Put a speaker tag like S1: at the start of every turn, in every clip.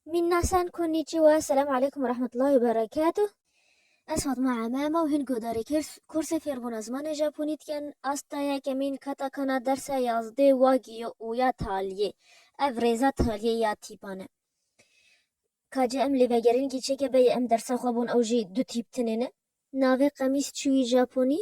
S1: Minasan konnichiwa, selam aleykum ve rahmetullahi berekatuh. Ez Fatma Emema û hin guhdarê kursê fêrbûna zimanê Japonî dikin. Asta ya kemîn katakana dersa yazdê wagî yo û ya taliyê. Ev rêza taliyê ya tîpan e. Ka cî em lê vegerîn kî çêke beyê em dersa xwe bûn ew jî du tîp tinê ne. Navê qemîs çûyî Japonî.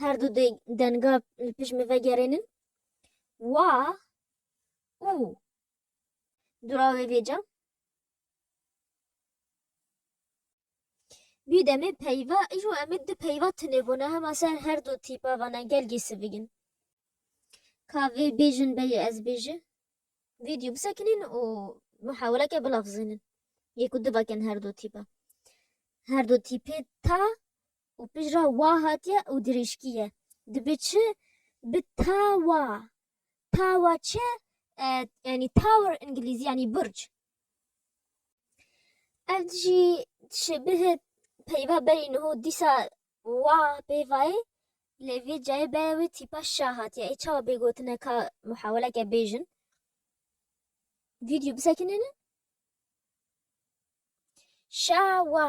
S1: her du denga li pişt me vegerênin wa û dura wê vêca Bî demê peyva îjo em ê di peyva tunêbûna hema ser her du tîpa vana gel gê sivigin. Ka vê bêjin beyê ez bêji vîdyo bisekinîn û muheweleke bilafzênin. Yê ku divakin her du tîpa. Her du tîpê ta û pijra wa hatiye û dirêjkî ye. Dibe çi? Bi tawa. Tawa çi? Yanî tower îngilîzî yanî burc. Ev jî şebihe peyva berî niho dîsa wa pêvayê lê vê cayê baya wê tîpa şa hatiye. Ê çawa bê gotine ka muhaweleke bêjin? Vîdyo bisekinêne? Şawa.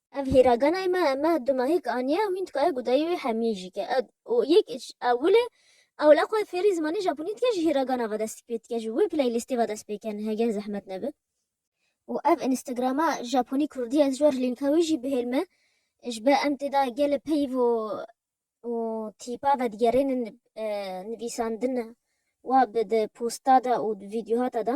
S1: Ev hêra ganay me me du mehêk aniye û hîn dikaye ku dayî wê hemiyê jî ke. Û yek ewilê ewla xwe fêrî zimanê japonî dike ji hêra gana ve dest pê dike ji wê playlîstê ve dest pê ken hegen zehmet nebe. Û ev Instagrama Japonî Kurdî ez ji we re lînka wê jî bihêl me ji ber em tê de gelê peyv û û tîpa vedigerênin nivîsandina we bi di posta de û di vîdyohata de.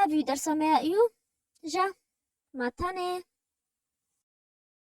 S1: Ev yû dersa me ya iyû ja ma tenê.